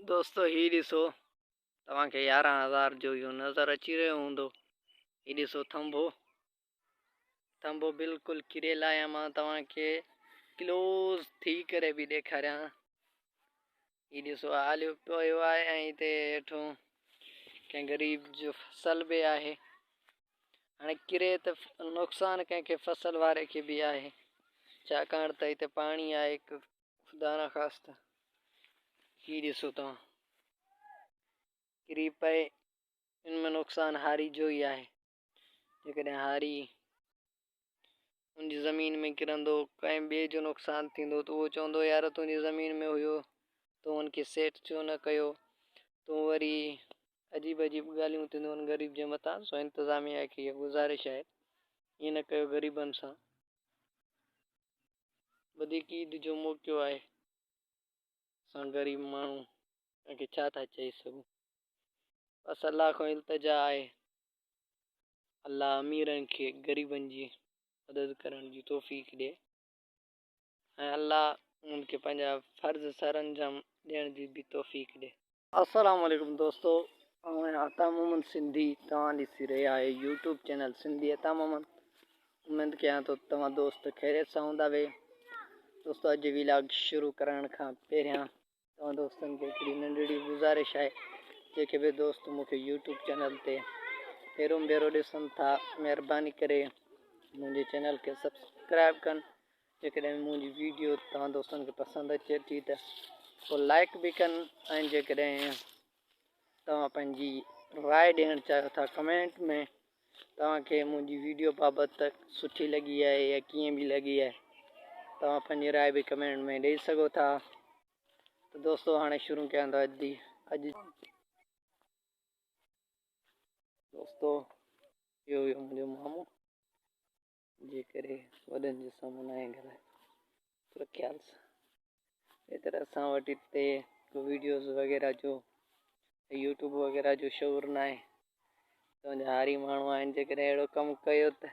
دوستو هي ڏسو توهان کي يارهن هزار جو اهو نظر اچي رهيو هوندو هي ڏسو ٿنڀو ٿنڀو بلڪل ڪري لاهيان مان توهان کي ڪلوز ٿي ڪري به ڏيکاريان هي ڏسو آليو پيو آهي ۽ هتي هيٺو ڪنهن غريب جو فصل به آهي هاڻي ڪري ته نقصان ڪنهن کي فصل واري کي به آهي ڇاڪاڻ ته هتي پاڻي آهي خدا نا خاستھ ھي ڏسو توھان ڪري پئي ان ۾ نقصان ھاري جو ئي آھي جيڪڏھن ھاري تنھنجي زمين ۾ ڪرندو ڪنھن ٻئي جو نقصان ٿيندو تھ اھو چوندو يار تنھنجي زمين ۾ ھيو تون ان کي سيٽ ڇو نھ ڪيو تون وري عجيب عجيب ڳالھيون ٿينديون ان غريب جي مٿان سو انتظاميا کي اھا گذارش آھي ائين نھ ڪيو غريبن سان وڌيڪ عيد جو موقعو آهي اسان غريب ماڻهو ان کي ڇا ٿا چئي سگهون بس الله کان التجا آهي الله اميرن کي غريبن جي مدد ڪرڻ جي توفيق ڏي ۽ الله انهن کي پنهنجا فرض سر انجام ڏيڻ جي به توفيق ڏي السلام عليڪم دوستو آئون آهيان عطا محمد سنڌي توهان ڏسي رهيا آهيو يوٽيوب چينل سنڌي عطا محمد اميد ڪيان ٿو توهان دوست خيريت سان هوندا وي دوستو اڄ جي ويلاگ شروع ڪرڻ کان پهريان توهان دوستن کي هڪڙي ننڍڙي گزارش آهي جيڪي به دوست مونکي يوٽيوب چينل تي پهريون ڀيرو ڏسن ٿا مهرباني ڪري منهنجي چينل کي سبسڪرائب ڪن جيڪڏهن منهنجي ويڊيو توهان دوستن کي پسند اچي ٿي ته پوء لائڪ به ڪن ۽ جيڪڏهن توهان پنهنجي راء ڏيڻ چاهيو ٿا ڪمينٽ ۾ توهان کي منهنجي ويڊيو بابت سٺي لڳي آهي يا ڪيئن به لڳي آهي توهان پنهنجي راء به ڪمينٽ ۾ ڏيئي سگهو ٿا ته دوستو هاڻي شروع ڪيان ٿا اڄ جي اڄ دوستو اهو هيو منهنجو مامو جي ڪري وڏن جو سامو ناهي ڳالهائي پر خيال سان اهڙي طرح اسان وٽ هتي ويڊيوز وغيره جو يوٽيوب وغيره جو شعور نه آهي تنهنجا هاري ماڻهو آهن جيڪڏهن اهڙو ڪم ڪيو ته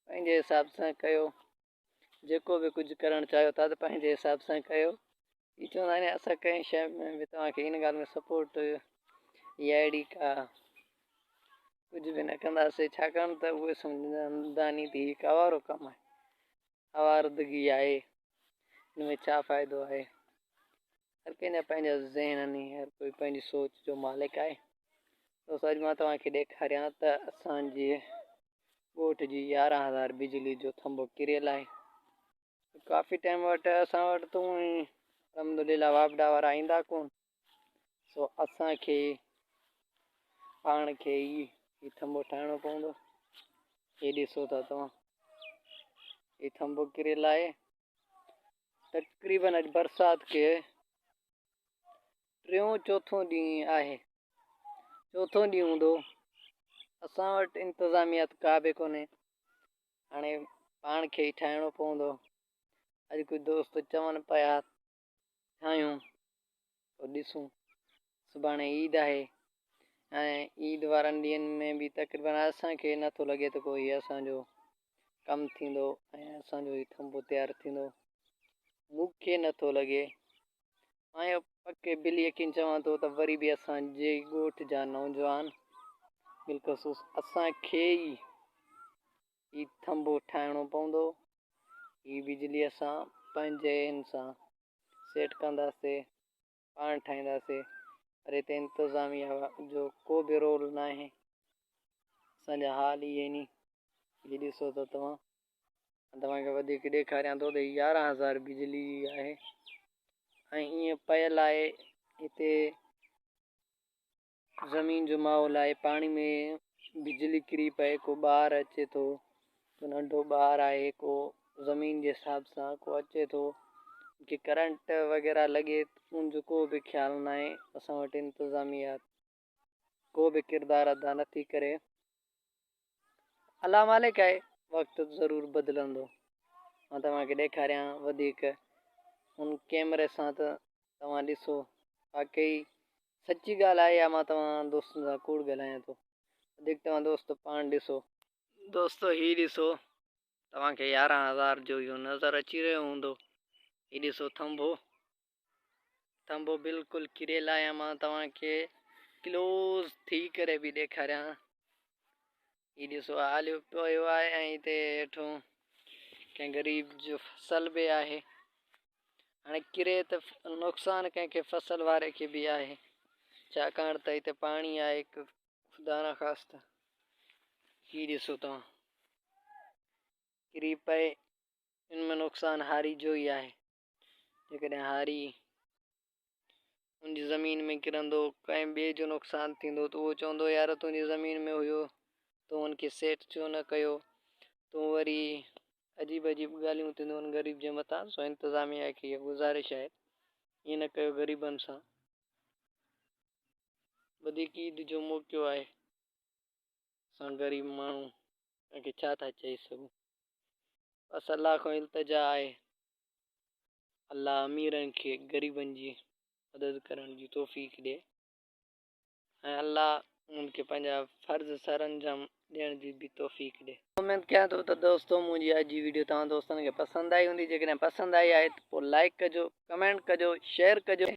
پنهنجي حساب سان ڪيو جيڪو به ڪجهه ڪرڻ چاهيو ٿا ته پنهنجي حساب سان ڪيو هي چوندا آهن اسان ڪنهن شيء ۾ به توهان کي ان ڳالهه ۾ سپورٽ يا اهڙي ڪا ڪجهه به نه ڪنداسين ڇاڪاڻ ته اهي سمجهندا آهن ته هي هڪ آوارو ڪم آهي آواردگي آهي ان ۾ ڇا فائدو آهي هر ڪنهن جا پنهنجا ذهن آهن هر ڪوئي پنهنجي سوچ جو مالڪ آهي دوست اڄ مان توهان کي ڏيکاريان ته اسانجي ڳوٺ جي يارهن هزار بجلي جو ٿنڀو ڪريل آهي ڪافي ٽائيم وٽ اسان وٽ تون الحمدلله واپڊا وارا ايندا ڪون سو اسان کي پاڻ کي هي ٿمبو ٺاهڻو پوندو هي ڏسو ٿا توهان هي ٿمبو ڪري لائي تقريبن اڄ برسات کي ٽيون چوٿون ڏينهن آهي چوٿون ڏينهن هوندو اسان وٽ انتظاميات ڪا به ڪونهي هاڻي پاڻ کي ئي ٺاهڻو پوندو. اڄ ڪجهه دوست چون پيا ٺاهيون پوء ڏسون. سڀاڻي عيد آهي ۽ عيد وارن ڏينهن ۾ به تقريبن اسان کي نه ٿو لڳي ته ڪو هي اسان جو ڪم ٿيندو ۽ اسان جو هي ٿنڀو تيار ٿيندو. مون کي نه ٿو لڳي آئين پڪي بل يقين چوان ٿو ته وري به اسان جي ڳوٺ جا نوجوان بالخصوص اسان کي ئي هي ٿنڀو ٺاهڻو پوندو هي بجلي اسان پنهنجي ان سان سيٽ ڪنداسي پاڻ ٺاهينداسي پر هتي انتظاميا جو ڪو به رول ناهي اسان جا حال هي ني جي ڏسو ته توهان آن توهان کي وڌيڪ ڏيکاريان ٿو ته هي يارهن هزار بجلي جي آهي ۽ ائين پيل آهي هتي زمين جو ماحول آهي پاڻي ۾ بجلي ڪري پئي ڪو ٻار اچي ٿو ڪو ننڍو ٻار آهي ڪو زمين جي حساب سان ڪو اچي ٿو جي ڪرنٽ وغيره لڳي ان جو ڪو به خيال ناهي اسان وٽ انتظاميات ڪو به ڪردار ادا نه ٿي ڪري. الله مالڪ آهي وقت ضرور بدلندو. مان توهان کي ڏيکاريان وڌيڪ ان ڪيمري سان ته توهان ڏسو واقعي سچي ڳالهه آهي يا مان توهان دوستن سان ڪوڙ ڳالهايان ٿو. وڌيڪ توهان دوست پاڻ ڏسو. دوستو هي ڏسو توهان کي يارهن هزار جو اهو نظر اچي رهيو هوندو. هي ڏسو ٿنڀو ٿنڀو بلڪل ڪريل آهي مان توهان کي ڪلوز ٿي ڪري به ڏيکاريان هي ڏسو آليو پيو آهي ۽ هتي هيٺو ڪنهن غريب جو فصل به آهي هاڻي ڪري ته نقصان ڪنهن کي فصل واري کي به آهي ڇاڪاڻ ته هتي پاڻي آهي خدا نه خاصتا هي ڏسو توهان ڪري پئي ان ۾ نقصان هاري جو ئي آهي جيڪڏهن هاري ان جي زمين ۾ ڪرندو، ڪنهن ٻئي جو نقصان ٿيندو ته اهو چوندو يار تنهنجي زمين ۾ هيو تون هن کي سيٽ ڇو نه ڪيو؟ تون وري عجيب عجيب ڳالهيون ٿينديون هن غريب جي مٿان سو انتظاميا کي اها گذارش آهي ائين نه ڪيو غريبن سان وڌيڪ عيد جو موقعو آهي. اسان غريب ماڻهو ان کي ڇا ٿا چئي سگهون. بس الله کان التجا آهي الله اميرن کي غريبن جي مدد ڪرڻ جي توفيق ڏي ۽ الله انهن کي پنهنجا فرض سر انجام ڏيڻ جي به توفيق ڏي. اميد ڪيان ٿو ته دوستو منهنجي اڄ جي ويڊيو توهان دوستن کي پسند آئي هوندي جيڪڏهن پسند آئي آهي ته پوء لائڪ ڪجو ڪمينٽ ڪجو شيئر ڪجو.